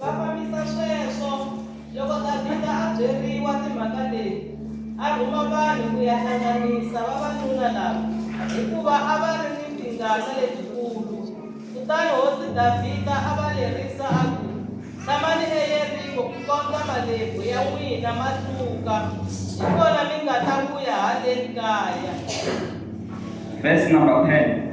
Va fambisa sweswo. Loko Davhida a byeriwa timhaka leti, a rhuma vanhu ku ya hlanganisa vavanuna lava, hikuva a va ri ni tingana letikulu. Kutani hosi Davhida a va lerisa a ku, Tshamani eYeriko kukondza malebvu ya n'wina ma tluka, hi kona mi nga ta vuya haleni kaya. Verse number 10.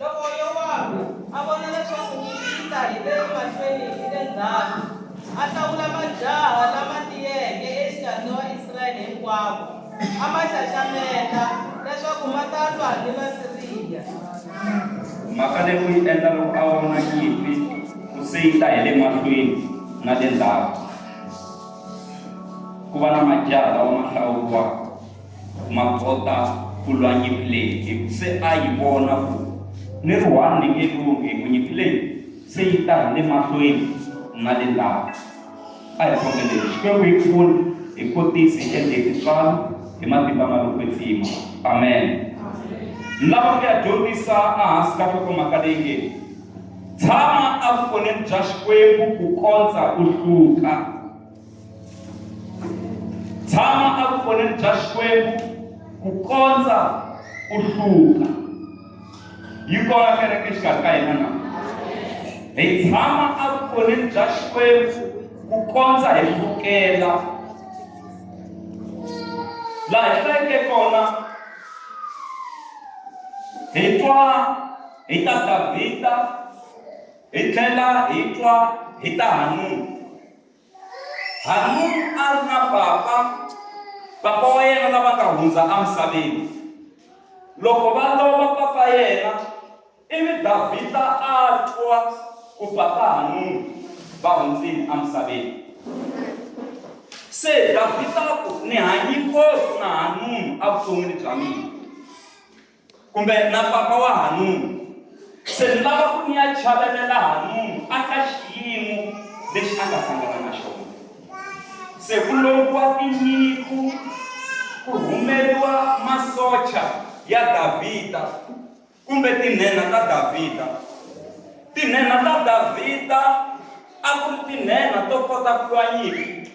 Loko Yowabu a vona leswaku ku cinca hi le mahlweni ni le ndzhaku, a hlawula majaha lama tiyeke exikarhi ka Vaisrayele hinkwavo, a ma xaxameta leswaku ma ta lwa ni Vasiriya. Mhaka leyi u yi endla loko a vona nyimpi ku se yi ta hi le mahlweni na le ndzhaku, ku va na majaha lawa ma hlawuriwaka. Makota Kulwanyi Pillay se a yi vona ku ni ri one ni nge lunghi ku nyimpi leyi se yi ta hi le mahlweni na le ndzhaku. A hi khongeleni Xikwembu hi pfune hi kotisi hi endle tintswalo hi matimba ma lo kwetsima. Amen. Ni lava ku ya dyondzisa ehansi ka nhlokomhaka leyi nge Tshama Evukoneni Bya Xikwembu Ku Kondza U Hluka. tshama evukoneni bya xikwembu ku kondza ku hluka yi kona kereke xikarhi ka hina na hi tshama evukoneni bya xikwembu ku kondza hi hlukela laha hi hlayeke kona hi twa hi ta davhida hi tlhela hi twa hi ta hanuna Hanuni a ri na papa, papa wa yena lava nga hundza emisaveni. Loko va lova papa yena, ivi Davhida a twa ku papa Hanuni va hundzile emisaveni. Se Davhida a ku, Ni hanye ngopfu na Hanuni evuton'wini bya mina. kumbe na papa wa hanunu se ni lava ku ni ya chavelela hanunu a ka xiyimo lexi a nga hlangana na xona se ku lombiwa tinyiku ku humeriwa masocha ya davhida kumbe tinhenha ta davhida tinhenha ta davhida a ku ri tinhenha to kota ku lwa nyimpi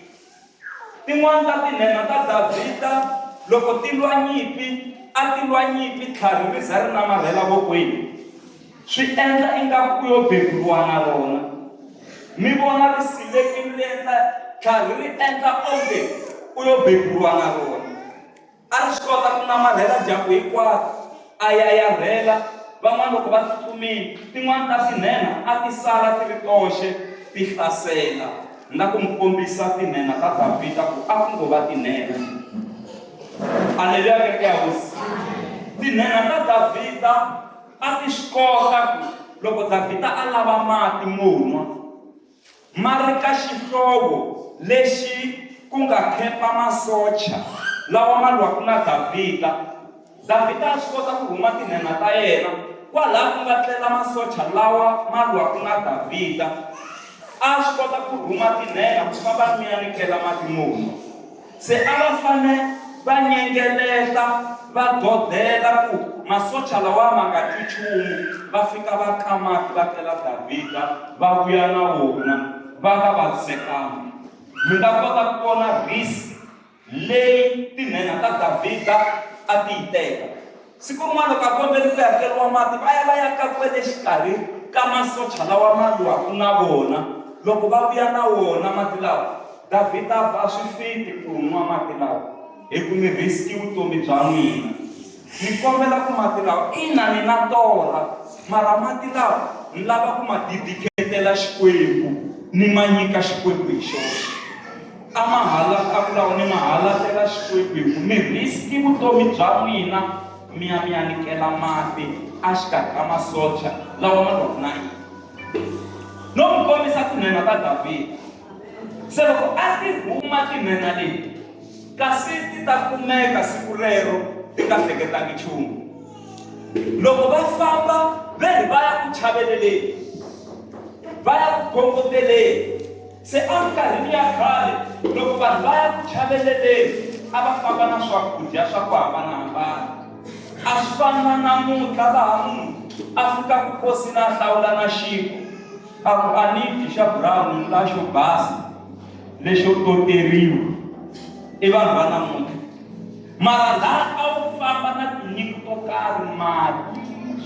Tin'wana ta tinhenha ta Davhida loko ti lwa nyimpi a ti lwa nyimpi tlhari ri za ri namarhela vokweni swi endla ingaku ku yo beburiwa na rona mi vona ri silekini ri endla tlhari ri endla onge ku yo beburiwa na rona A ri swi kota ku namarhela dyambu hinkwaro, a yayarhela van'wana loko va tsutsumile, tin'wana ta tinhenha a ti sala ti ri toxe ti hlasela na ku n'wi kombisa tinhenha ta Davhida ku a ku ngo va tinhenha. Aleluya kereke ya hosi! Tinhenha ta Davhida a ti swi kota ku loko Davhida a lava mati mo nwa, ma ri ka xihlovo lexi ku nga khempa masocha lawa ma lwaku na Davhida. Davhida a swi kota ku rhuma tinhenha ta yena kwalaha ku nga tlela masocha lawa ma lwaku na Davhida. A swi kota ku rhuma tinhenha ku famba ni ya ni kela mati mo nwa. Se a va fane va nyengeleta va godela ku masocha lawa ma nga twi chumu, va fika va ka mati va kela Davhida va vuya na wona va nga vavisekanga. Mi nga kota ku vona rhisi leyi tinhenha ta Davhida a ti yi teka. Siku rin'wana vakomberi ku hakeriwa mati va ya va ya ka kwele xikarhi ka masocha lawa ma lwaku na vona. Loko va vuya na wona mati lawa, Davhida a ku, A swi fiti ku nwa mati lawa, hi ku mi riski vutomi bya n'wina. Ni kombela ku mati lawa, ina ni na torha, mara mati lawa ni lava ku ma didikhetela Xikwembu ni ma nyika Xikwembu hi xoxe. A ma ha la a ku lawa mi ma ha lahleka Xikwembu hi ku mi risk vutomi bya n'wina mi ya mi ya nikela mati a xikarhi ka masocha lawa ma lwaku na yini no mi kombisa tinhenha ta Davhida se loko a ti huma tinhenha leti kasi ti ta kumeka siku rero ti nga hleketangi nchumu loko va famba ve ri va ya ku chaveleleni va ya ku khongoteleni Se eminkarhini ya khale, loko vanhu va ya ku chaveleleni a va famba na swakudya swa ku hambana-hambana. A swi fani na namuntlha laha munhu a fikaka nkosini a hlawula na xinkwa a ku a ni dyi xa brown ni la xo basa lexo toteriwa i vanhu va namuntlha. mara laha a wu famba na tinyiko to karhi mati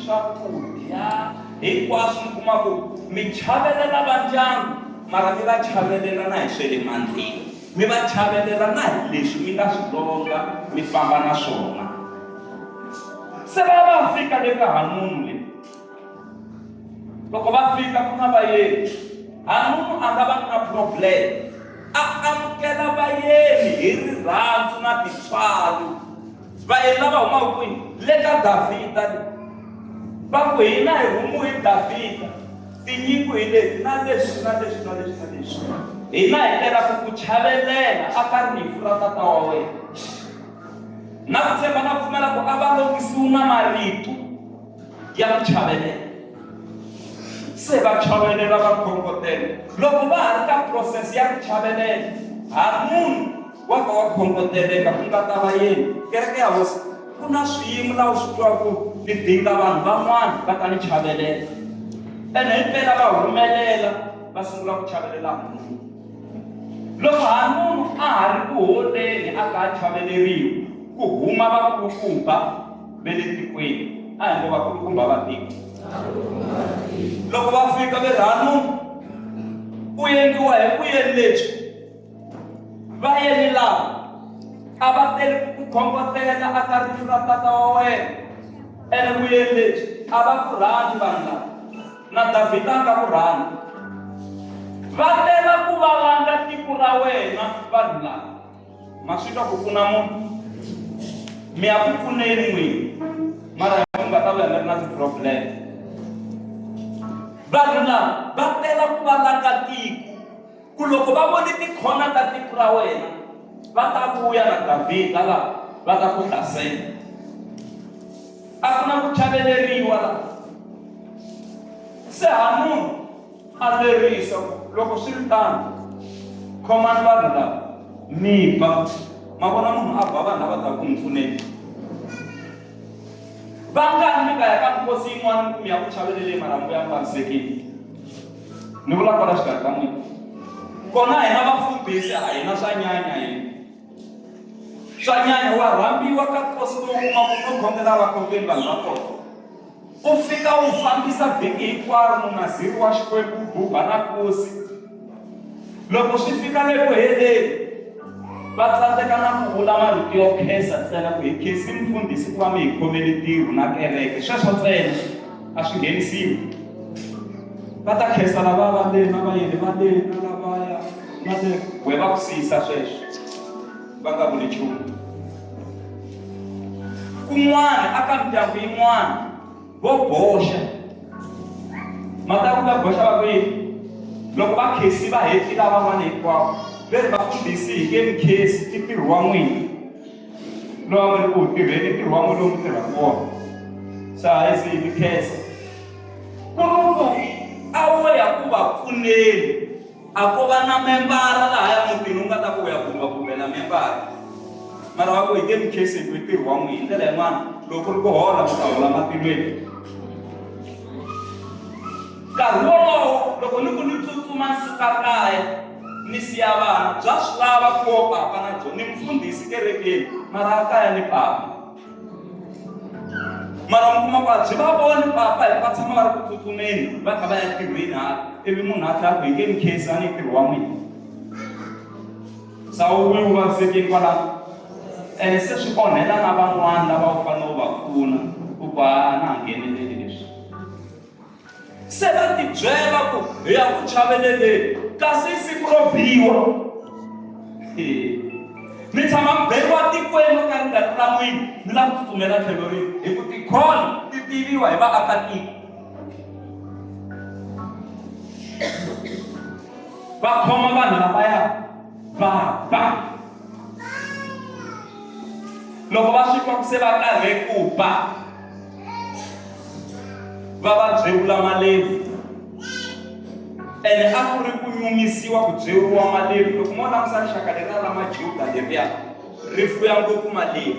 swakudya hinkwaswo mi kuma ku mi chavelela va ndyangu mara mi va chavelela na hi swe le mandleni mi va chavelela na hi leswi mi nga swi longa mi famba na swona se va va fika le ka hanunu le loko va fika ku na vayeni hanumu a nga va ku na problem a amukela vayeni hi rirhandzu na titswalo vayeni lava humaka kwini le ka davhida va ku hina hi humu hi davhida tinyiko hi leti na leswi na leswi na leswi na leswi hina hi tela ku ku chavelela a ka rifu ra tata wa wena na ku tshemba na pfumela ku a va longisiwi na marito ya ku chavelela se va chavelela va khongotela loko va ha ri ka process ya ku chavelela ha munhu wa ka wa khongoteleka ku nga ta va yini kereke ya hosi ku na swiyimo laha u swi twaku ni dinga vanhu van'wana va ta ni chavelela ene hi mpela va humelela va sungula ku chavelela munhu loko ha munhu a ha ri ku holeni a ka a chaveleriwi ku huma vakulukumba ve le tikweni a hi ngo vakulukumba va tiko loko va fika ve rhanu ku endliwa hi ku yeni lebyi va yeni laha a va tele ku khongotela a ka rifu ra tata wa wena ene ku yeni lebyi a va ku rhani vanhu lava na davhida a nga ku rhani va tela ku valanga tiko ra wena vanhu lava masvika kukuna munhu mi akukuneni n'wini mara munhu nga ta vuya mi ri na ti-problem vanhu lava va tela ku va laka tiko ku loko va vone tikhona ta tiko ra wena va ta vuya na davhida laha va ta ku hlasela a ku na ku chaveleriwa laha se ha munhu a lerisa ku loko swi ri tano khomani vanhu lava mi ba ma vona munhu a ba vanhu lava ta ku n'wi pfuneni vangani mi nga ya ka mikosi yin'wana mi kumiya ku chavele leyi marhambu ya panisekile ni vula kona xikarhi ka n'wina kona hina vafundhisi a hina swa nyanya hina swa nyanya wa rhambiwa ka nkosi lowu kuma ku no khongela vakhongeli vanhu va kona U fika u fambisa vhiki hinkwaro munaziri wa Xikwembu u buba na nkosi. Loko swi fika le ku heleni, va tsandzeka na ku vula marito yo khensa ntsena ku hi khensi mufundhisi ku va mi hi khomele ntirho na kereke sweswo ntsena a swi nghenisiwi va ta khensa lava va lena vayeni va lena lavaya na le we va ku siyisa sweswo va nga vuli nchumu kun'wana a ka mindyangu yin'wana vo boxa mhaka ku va boxa va kwihi loko va khesi va hetli lavan'wana hinkwavo ve ri va fundhisi hi ke mikhesi i ntirho wa n'wina lowa mi ri ku tirheni ntirho wa n'wina lowu mi tirhaka wona sa hi se hi mikhesa ku ri ku a wo ya ku va pfuneni A ko va na membara lahaya mutini u nga ta ku u ya gumba kumbe la membara mara wa ku hi nge mi khesi hi ku i ntirho wa n'wina hi ndlela yin'wana loko ku ri ku hola mi ta hola matilweni nkarhi wolowo loko ni ku ni tsutsuma ni suka kaya ni siya vana bya swi lava ku wo papa na byona ni mfundhisi kerekeni mara a kaya ni papa mara mi kuma ku a byi va voni papa hi va tshama va ri ku tsutsumeni va kha va ya tirhweni hala ivi munhu a tlha ku hi nge ni khesi a ni ntirho wa n'wina sawulo wu vavisekeni kwalano ene se swi onhela na van'wana lava wu fanele wu va pfuna ku ku a na ha ngheneleli leswi Se va tibyela ku hi ya ku chaveleleni kasi i siku ro biwa mi tshama mi beriwa tikweni ka ri nga ri ra n'wini mi lava ku tsutsumela tlhelo rini hi ku tikholo ti tiviwa hi vaakatiko va khoma vanhu lavaya va ba loko va swi twa ku se va karhe ku ba va va byevula malevi ene a ku ri ku nyumisiwa ku byeriwa malevi loko mo langusa rixaka leriya la majuda leriya ri fuya ngopfu malevi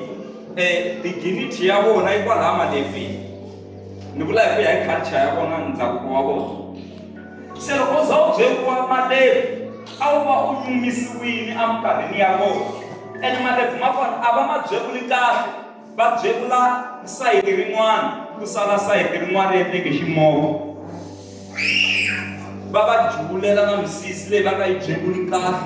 um diginity ya vona yi kwalaha malevini ni vula hi ku ya hi culture ya vona ndhavuko wa vona se loko u za u byeriwa malevi a wu va u nyumisiwile eminkarhini ya vona ene malevi ma kona a va ma byevuli kahle va byevula sayiti rin'wana ku sala sayiti rin'wana ri endleke ximoko va va juvulela na misisi leyi va nga yi byevuli kahle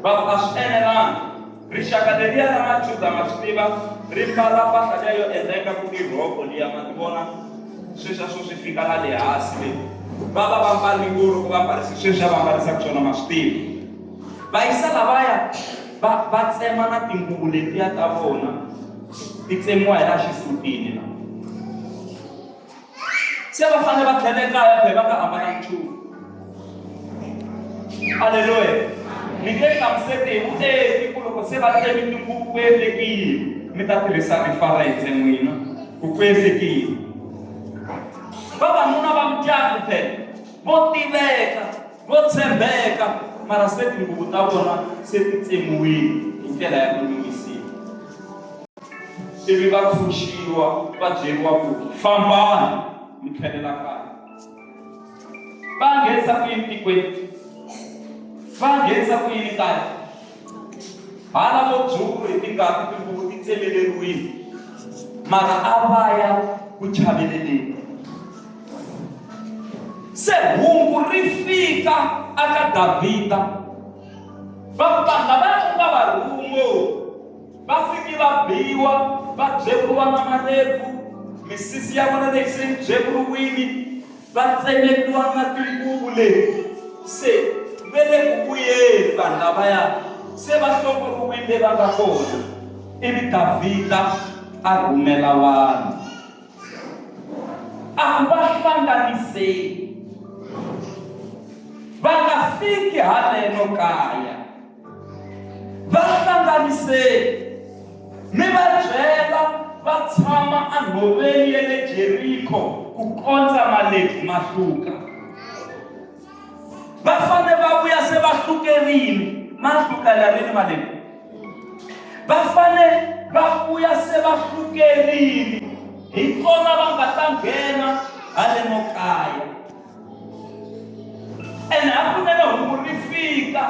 va a swi enelanga rixaka leriya ra majuda ma swi tiva ri mbala mpahla liya yo endleka ku i rhoko liya ma ti vona sweswi a swo swi fika la le hansi leyi va va va mbali nguru ku va mbarisi sweswi a va mbarisaka swona ma swi tiva va yisa lavaya va va tsema na tinguvu letiya ta vona ti tsemiwa hi laha xisutini la se va fanele va tlhela ekaya phela va nga hambana nchumu aleluya mi nge hlamuseti hi vuenti ku loko se va tsemi tinguvu ku endlekile mi ta tirhisa rifarense n'wina ku ku endlekile vavanuna va mutyangu phela vo tiveka Vo tshembeka, mara se tinguvu ta vona se ti tsemiwile hi ndlela ya ku nyumisiwa. Ivi va pfuxiwa va byeriwa ku fambani mi tlhelela kaya. Va nghenisa ku yini tikweni? Va nghenisa ku yini kaya? Hana vo dzulu hi tingati tinguvu ti tsemeleriwile, mara a va ya ku chaveleleni. Se hungu ri fika aka Davhida, vapanga va ku nga va rhungo va fiki va biwa va byevuriwa na malevu, misisi ya vona leyi se yi byevuriwile Va tsemetiwa na tinguvu leti se ve le ku vuyeni vanhu lavaya se va hlongoriwile va nga kona. Ivi Davhida a rhumela vanhu. A va hlanganiseni, va nga fiki haleno kaya. va hlanganiseni mi va byela va tshama enhoveni ya le jeriko ku kondza malebvu ma hluka va fane va vuya se va hlukerini ma hluka la rini malebvu va fane va vuya se va hlukerini hi kona va nga ta nghena hale no kaya ene a kunene hungu ri fika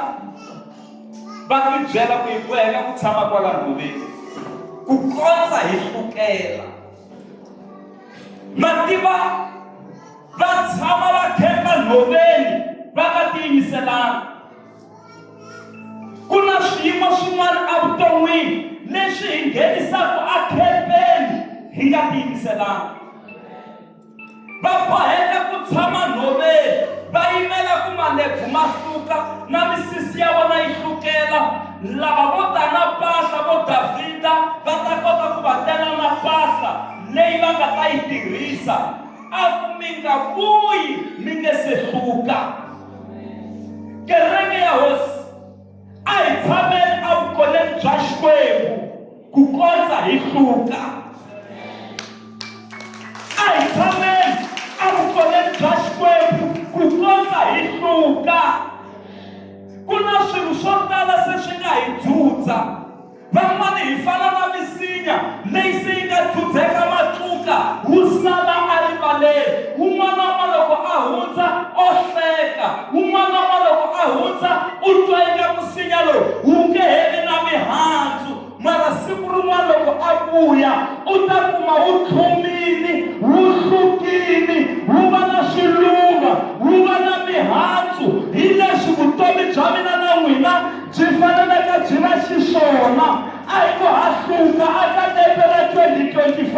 va tibyela ku hi ku hela ku tshama kwala nhoveni ku kondza hi hlukela mativa va tshama va khemba nhoveni va nga tiyimiselanga ku na swiyimo swin'wana evuton'wini leswi hi nghenisaka akhempeni hi nga tiyimiselanga va boheka ku tshama nhoveni va yimela ku malebvu ma hluka na misisi ya vona yi hlukela lava vo ta na pahla vo davhida va ta kota ku va tela na pahla leyi va nga ta yi tirhisa a ku mi nga vuyi mi nge se hluka kereke ya hosi a hi tshameni evukoneni bya xikwembu ku kondza hi hluka a hi tshameni evukoneni bya xikwembu ku kondza hi hluka ku na swilo swo tala se swi nga hi dzudza Van'wana hi fana na misinya leyi se yi nga dzudzeka matluka. Wu sala a rivaleni. Wun'wanan'wa loko a hundza o hleka. Wun'wanan'wa loko a hundza u twa inga musinya lowu wu nge he vi na mihandzu. Mara siku rin'wana loko a vuya u ta kuma wu tlhumini, wu hlukini, wu va na swiluva, wu va na mihandzu. Hi leswi vutomi bya mina na n'wina Byi faneleke byi va xiswona a hi ku hahluka eka lembe ra 2025,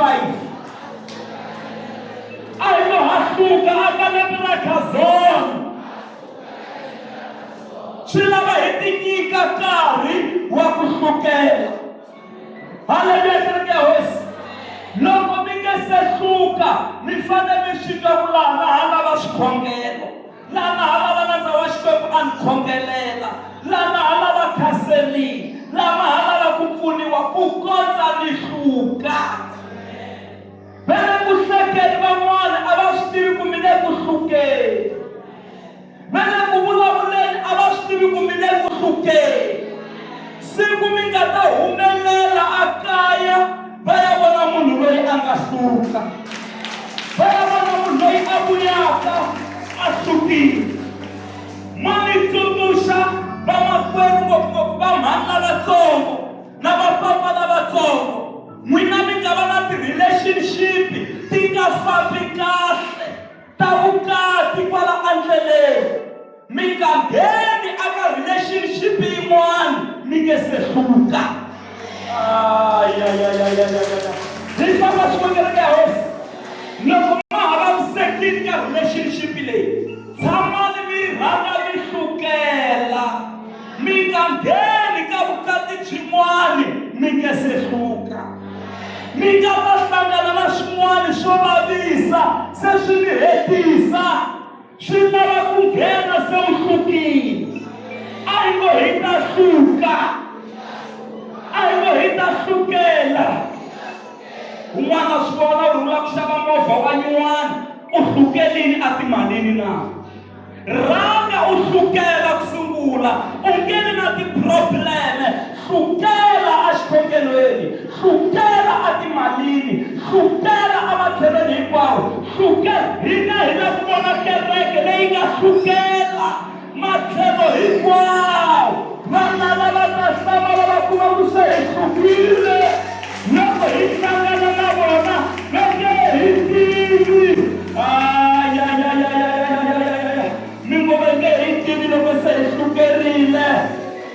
a hi ku hahluka eka lembe ra Kazon. Swi lava hi tinyika nkarhi wa ku hlukela. Haleluya, kereke ya Hosi! Loko mi nge se hluka, mi fanele mi swi twa ku laha na hala va swikhongelo. la nga ha lava nandza wa Xikwembu a ni khongelela, la nga ha lava khaselini, la nga ha lava ku pfuniwa ku kondza ni hluka. Vele ku hlekeni van'wana a va swi tivi ku mi le ku hlukeni. Vele ku vulavuleni a va swi tivi ku mi le ku hlukeni. siku mi nga ta humelela a kaya va ya vona munhu loyi a nga hluka va ya vona munhu loyi a vuyaka a hlukile ma mi tsundzuxa vamakwerhu ngopfungopfu va mhani lavatsongo na vapapa lavatsongo n'wina mi nga va na ti-relationship ti nga fambi kahle ta vukati kwala andleleni Mi nga ngheni aka relationship yin'wana mi nge se hluka. Hi famba swin'we kereke ya hosi. Loko ma ha vavisekile ka relationship leyi, tshamani mi rhanga mi hlukela. Mi nga ngheni ka vukati byin'wana mi nge se hluka. Mi nga ta hlangana na swin'wana swo vavisa se swi mi hetisa. swi lava ku nghena se u hlukile a hi ngo hi ta hluka a hi ngo hi ta hlukela un'wana a swi vona u rhula ku xava movha wa nyuwana u hlukelini a timalini na rhanga u hlukela ku sungula u nge vi na tiprobleme Sukela exikhokelweni, sukela etimalini, sukela ematlhelweni hinkwawo, sukela. Hina hi la ku vona kereke leyi nga sukela matlhelo hinkwawo. Vana lava ta hlamala va kuma ku se hi sukile loko hi hlangana na vona va nge hi tivi. Ayayayayayayayayaya! Mingoma yi nge hi tivi loko se hi sukerile.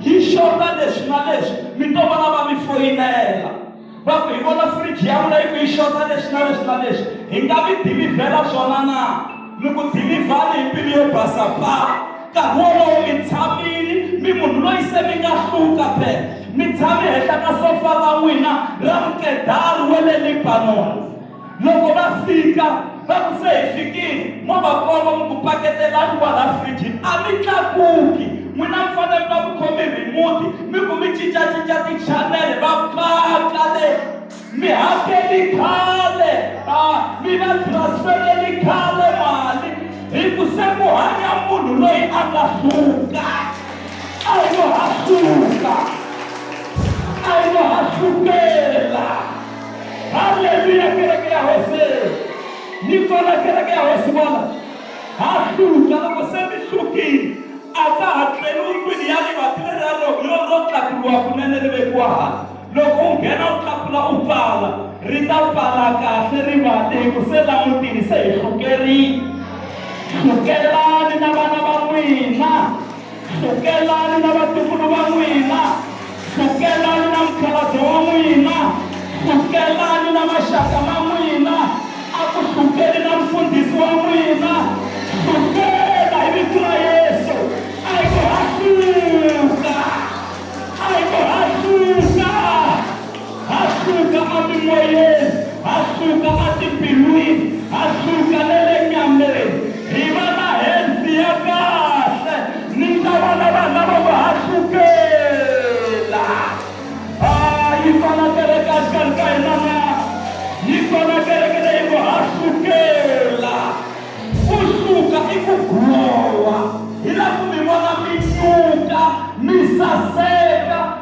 hi xona leswi na leswi mi to vona va mi foyinela va ku hi vona firiji ya n'wina yi ku yi xota leswi na leswi na leswi hi nga mi dilivhela swona na mi ku dilivhani hi mbilu yo basa pa nkarhi wolowo mi tshamile mi munhu loyi se mi nga hluka phe mi tshame henhla ka sofa ra n'wina ra mukedari wa le libanoni Loko va fika, va ku, Se hi fikile. Mo va komba, mi ku, Paketelani kwalaa frijini. A mi tlakuki. N'wina mi fanele mi va mi khome rhimuti, mi ku mi cinca-cinca tichanele. Va paka le. Mi hakeli khale. A mi va transfereli khale mali, hi ku se ku hanya munhu loyi a nga suka. A hi lo ha suka. A hi lo ha sukela. Haleluya, kereke ya Hosi. Ni pfala kereke ya Hosi vona. Ha hluta loko se mi hlukile. A ka ha tleli ndlwini ya rivati leri ra ro yo ro tlakuliwa kunene ri vekiwa hansi. Loko u nghena u tlakula u pfala, ri ta pfala kahle rivati hi ku se la mutini se hi hlukerile. Hlukelani na vana va n'wina. Sukelani na vatukulu va n'wina, sukelani na mukhalabye wa n'wina, sukelani na maxaka ma n'wina, a ku sukeli na mfundhisi wa n'wina. Sukela hi vito ra Yesu, a hi ku ha suka, a hi ku ha suka. Ha suka emimoyeni, ha suka etimbilwini, ha suka na le nyameni. Hi va na health ya kahle. Ni nga va na vanhu lava ngo ha sukela. Ha, yi kona kereke exikarhi ka hina na? Yi kona kereke leyi ngo ha sukela. Ku suka i ku glowa. Hi lava ku mi vona mi nyuka, mi saseka.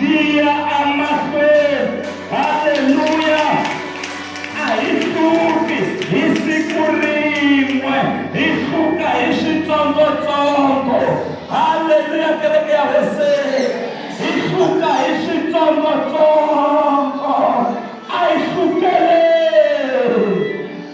Liya amahlweni. Haleluya! A hi hluki hi siku rin'we, hi hluka hi switsongotsongo. Haleluya, kereke ya Hoseni! Hi hluka hi switsongotsongo. A hi hlukeleni.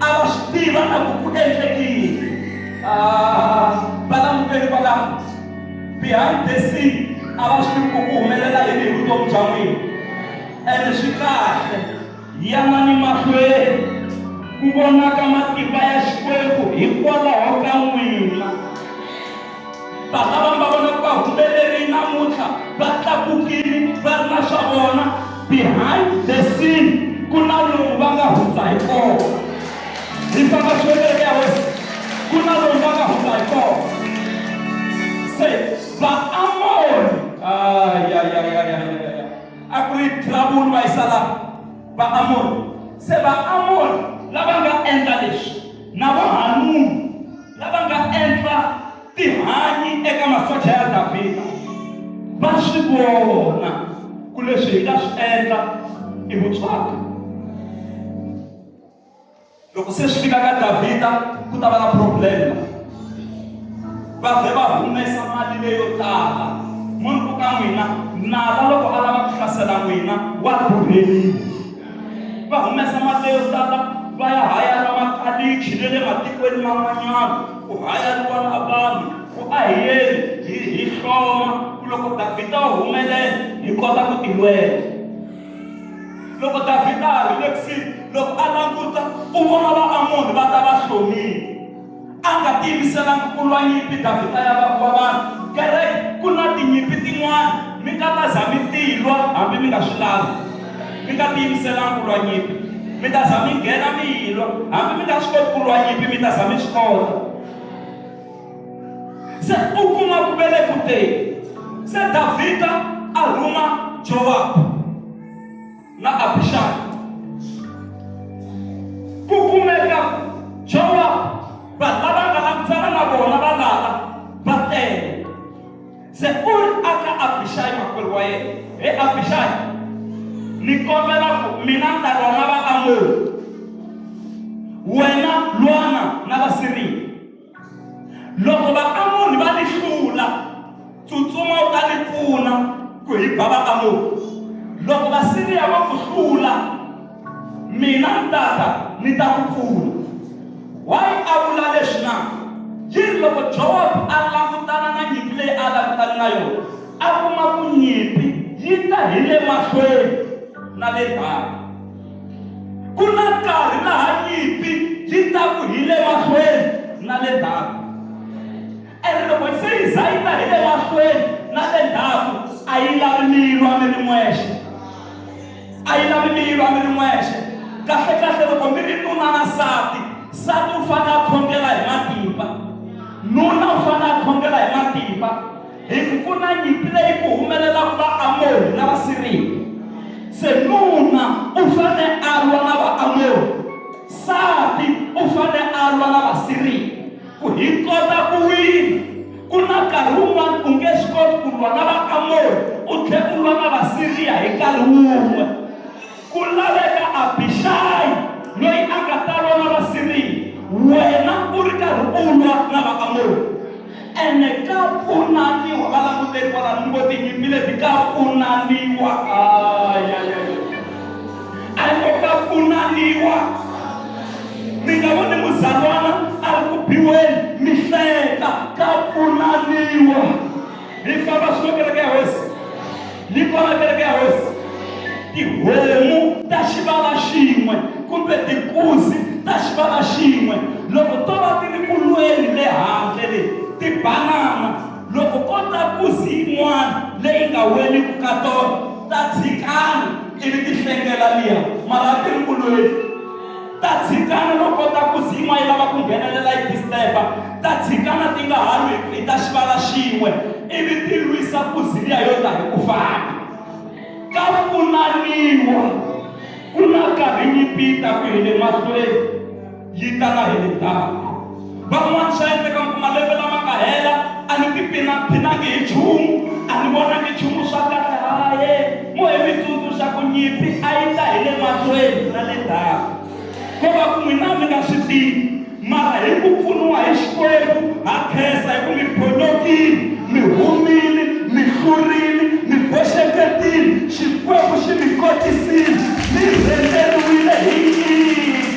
a va swi tiva na ku ku endlekile valanguteli ah, kwalaho behind the scene a va swi tivi ku ku humelela yini hi vutomi bya n'wina ende swi kahle yanani mahlweni ku vonaka matimba ya xikwembu hikwalaho ka n'wina vana va nga vona ku va humelerile namuntlha va tlakukile va ri na swa vona behind the scene ku na lomu va nga hundza hi kona hi famba xiweteke ya hosi ku na lomu va nga hundza hi kona se vaamori ayayayayaya a ku ri trouble va yisa lava vaamori se vaamori lava nga endla leswi na vohanunu lava nga endla tihanyi eka masocha ya Davhida va swi vona ku leswi hi nga swi endla i vutswaka loko se swi fika ka Davhida ku ta va na problem va vhe va humesa mali leyo tala munhu ku ka n'wina nala loko a lava ku hlasela n'wina wa durheliwa va humesa mali yo tala va ya hayara makalichi ne le matikweni man'wanyana ku hayariwa na vanhu ku ahiyeni hi hi hloma ku loko davhida u humelela hi kota ku tilwela loko davhida a ri le kusuhi loko a languta u vona vaamoni va ta va hlomile a nga tiyimiselanga ku lwa nyimpi davhida ya vanhu va vanhu kereke ku na tinyimpi tin'wana mi nga ta za mi tilwa hambi mi nga swi lavi mi nga tiyimiselanga ku lwa nyimpi mi ta za mi nghena mi yilwa hambi mi nga swi koti ku lwa nyimpi mi ta za mi swi kota se u kuma ku ve le ku teni se davhida a rhuma jowabu na Abishai. Ku kumeka Joab vanhu lava nga langutsana na vona va lala va tele. Se u ri aka Abishai makwerhu wa yena, he Abishai, ni kombela ku mina ni ta lwa na Vaamoni, wena lwana na Vasiriya. loko vaamoni va ni hlula tsutsuma u ta ni pfuna ku hi ba vaamoni loko vasiriya va ku hlula mina ni tata ni ta ku pfuna wayi a vula leswi na yi ri loko jowabu a langutana na nyimpi leyi a langutane na yona a kuma ku nyimpi yi ta hi le mahlweni na le banga ku na nkarhi laha nyimpi yi ta ku hi le mahlweni na le ndzhaku ene loko yi se yi za yi ta hi le mahlweni na le ndzhaku a yi lavi mi yi lwa mi ri n'wexe a yi lavi mi yi lwa mi ri n'wexe kahlekahle loko mi ri nuna na sati sati u fanele a khongela hi matimba nuna u fanele a khongela hi matimba Hi ku pfuna nyimpi leyi ku humelelaka Vaamori na Vasiriya. Se nuna u fane a lwa na Vaamori, nsati u fane a lwa na Vasiriya. Ku hi kota ku wina, ku na nkarhi wun'wana u nge swi koti ku lwa na Vaamori u tlhela u lwa na Vasiriya hi nkarhi wun'we. Ku laveka Abixayi loyi a nga ta lwa na Vasiriya, wena u ri karhi u lwa na Vaamoni. Ene ka pfunaniwa valanguteri kwalano, ni ngo, Tinyimpi leti, ka pfunaniwa. Ayayayay! A yi ngo, Ka pfunaniwa. Mi nga voni muzalwana a ri ku biweni, mi hleka, ka pfunaniwa. ni famba swi kereke ya hosi ni kwala kereke ya hosi tihomu ta xivala xin'we kumbe tikuzi ta xivala xin'we loko to va ti ri kulweni le handle le ti banana loko ko ta kuzi yin'wana leyi nga weliku ka tona ta tshikana ivi ti hlengela liya mara ti ri kulweni ta dzikana no kota ku zin'wa yi lava ku nghenelela yi disturba ta dzikana ti nga ha lwi hi ta xivala xin'we ivi ti lwisa ku ziliya yo ta hi ku fana ka pfunaniwa ku na karhi yi pita ku hi le mahlweni yi tala hi le ndzhaku Van'wana swa endleka mi kuma lembe lama nga hela a ni tiphinaphinangi hi nchumu a ni vonangi nchumu swa kahle haye mo hi mi tsundzuxa ku nyipfi a yi ta hi le mahlweni na le ndzhaku ko va ku n'wina mi nga swi tivi mara hi ku pfuniwa hi xikwembu ha khensa hi ku mi phonyokile mi humile mi hlurile mi boxeketile xikwembu xi mi kotisile mi rhenderiwile hi nyika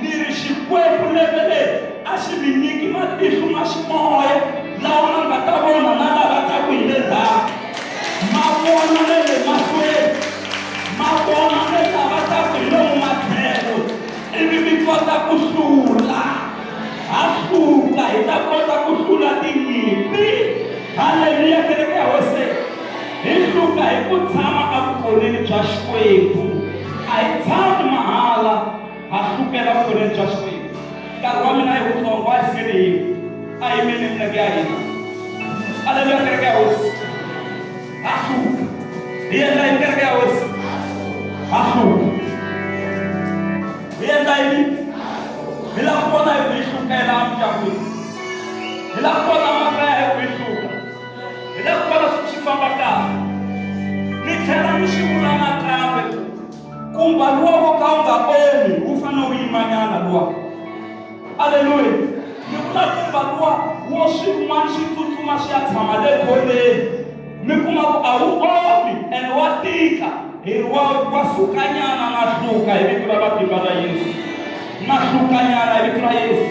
Ni ri, Xikwembu lembe leri a xi mi nyiki matihlo ma ximoya lawa ma nga ta vona na lava taku hi le ndzhaku ma vona ne le mahlweni ma vona ne lava taku hi lomu matlhelo, ivi mi kota ku hlula. Ha suka hi ta kota ku hlula tinyimpi. Haleluya, kereke ya Hosi! Hi hluka hi ku tshama evukoneni bya Xikwembu. A hi tshami mahala, ha hlukela evukoneni bya Xikwembu. Nkarhi wa mina i wutsongo, a hi singeni yin'we. A hi yimeni hi milenge ya hina. Aleluya, kereke ya Hosi. Ha hluka. Hi endla yini kereke ya Hosi? Ha hluka. Hi endla yini? Hi lava ku vona hi ku yi hlukela emindyangwini. Hi lava ku vona makaya hi ku yi hluka. hi la ku vona swi swi famba kahle ni tlhela ni swi vula nakambe kumba luwa wo ka wu nga omi wu fanele wu yimanyana luwa aleluya ni vula kumba luwa wo swin'wana swi tsutsuma swi ya tshama le kholeni mi kuma ku a wu omi and wa tika hi ri wa wa sukanyana na hluka hi vito ra matimba ra yesu na hlukanyana hi vito ra yesu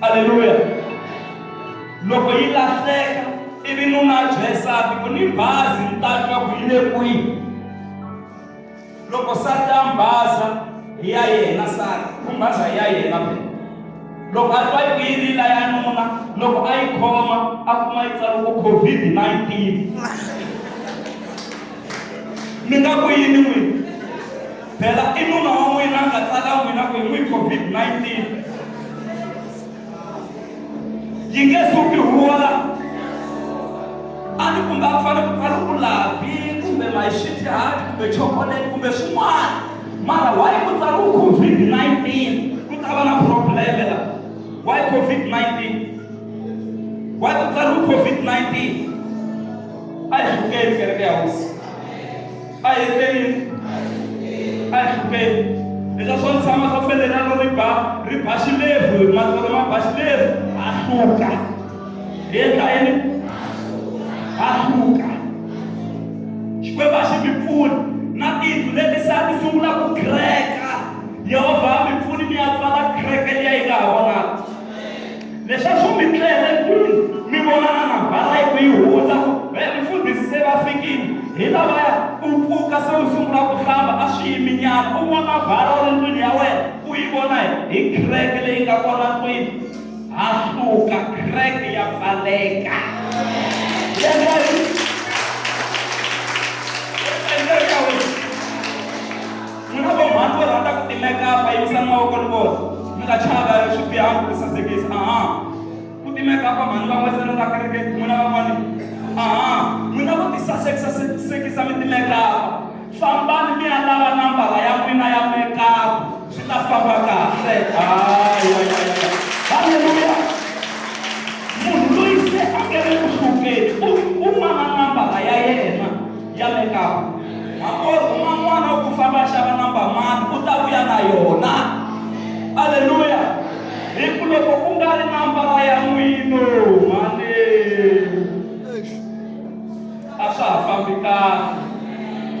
Aleluya! Loko yi lahleka ivi nuna a byela nsati ku ni bazi ni ta twa ku yi le kwihi loko sati a mbaza hi ya yena sati ku mbaza hi ya yena be loko a twa yi ku yi rila ya nuna loko a yi khoma a kuma yi tsala ku covid-19 mi nga ku yini n'wini Phela i nuna wa n'wina a nga tsala n'wina ku hi n'wi COVID-19 yi nge suki huwa a ni kumbe a fane ku fane ku lavi kumbe mayixitihati kumbe chocolate kumbe swin'wana mara why ku tsariwa covid-19 ku ta va na probleme la why covid-19 why ku tsariwa covid-19 a hi hlukeni kereke ya hosi a hi hlupeni a hi hlupeni leswa swo tshama swo felelano ri ba ri ba xilevu matsolo ma ba xilevu a hluka hi endla yini a hluka xikwembu a xi mi pfuni na tindlu leti se a ti sungula ku kreka yehovha a mi pfuni mi ya pfala kreke liya yi nga ha vonaka Leswaku mi tlele kwini, mi vona na mabala yi ku yi hundza, va ya mufundhisi se va fikile, hi lavaya, u pfuka se u sungula ku hlamba, a swi yiminyana, u nwa mabala u ri ndlwini ya wena, u yi vona hi, hi crack leyi nga kona ndlwini, ha suka, crack ya pfaleka. Yendla yini? N'wina vo mhani vo rhandza ku timekapa, yimisani mavoko ni vona. Mi nga chavi, a hi swi bihangi ku sasekisa. Aha. Ku timekapa, mhani va n'wesela laha kerekeni, n'wina van'wani. Aha. N'wina vo tisasekisa, sekisa mi timekapa. Fambani mi ya lava nambara ya n'wina ya mekapa, swi ta famba kahle. Hayayayaya! Haleluya! Munhu loyi se a nge le ku hlupeni, u, u mana nambara ya yena. ya mekapu hakona rhuma n'wana wa ku famba xava namba mani u ta vuya na yona aleluya hi ku loko ku nga ri nambara ya n'wino mane a swa ha fambi kahle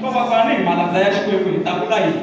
ko va fana ni hi malandza ya xikwembu hi ta vula yini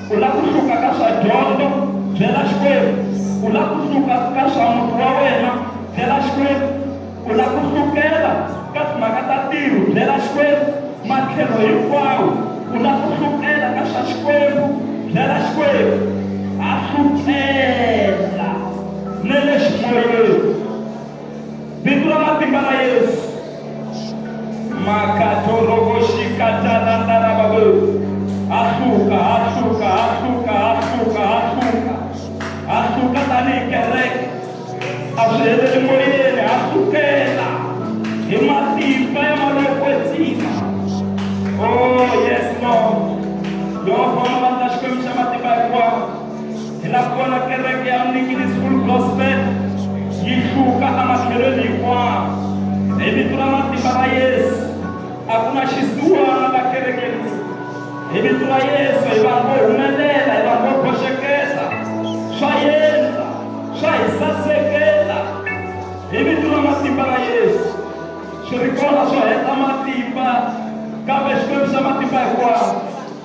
u lava ku hluka ka swa dyondzo byela xikwembu u lava ku hluka ka swa muti wa wena byela xikwembu u lava ku hlukela ka timhaka ta tiro byela xikwembu matlhelo hinkwawo u lava ku hlukela ka swa xikwembu byela xikwembu a hlukela ne le ximoyeni Vito ra matimba ra Yesu. Makatorokoshikatanandarababo. Hahluka, hahluka, hahluka, hahluka, hahluka. Hahluka tanihi kereke. A swi heleli moyeni, hahlukela hi matimba ya malokwetsima. Oh, yes, Lord. Yehova, u nga va na Xikwembu xa matimba hinkwawo. Hi la ku vona kereke ya Mnikilisi Full Gospel yi hluka ematlhelweni hinkwawo hi vito ra matimba ra Yesu. A ku na xisiwana la kereke leyi. Hi vito ra Yesu hi vanhu vo humelela, hi vanhu vo boxeketa, swa yendla, swa hi sasekela hi vito ra matimba ra Yesu. Swi ri kona swo heta matimba kambe Xikwembu xa matimba hinkwawo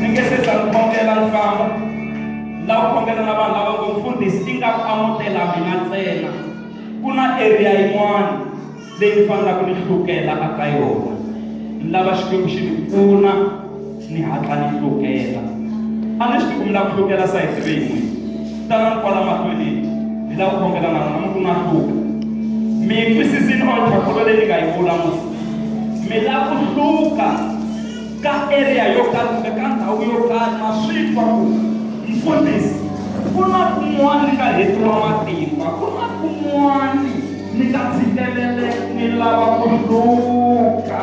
mi nge se za ni kombela ni famba la ku kombela na vanhu lava ngo mfundhisi i nga amutela mina ntsena ku na area yin'wana leyi ni fanelaka ni hlukela a ka yona ni lava xikwembu xi ni pfuna ni hatla ni hlukela a ni swi tiku mi la ku hlukela sayiti leyi n'wini tala ni kwala mahlweni ni la ku kombela na n'wina mi ku na hluka mi twisisini onthakolo leyi ni nga yi vula musi mi la ku hluka ka area yo karhi kumbe ka ndhawu yo karhi ma swi twa ku mfundhisi ku na kun'wana ni nga hetiwa matimba ku na kun'wana ni nga tshikeleleka ni lava ku hluka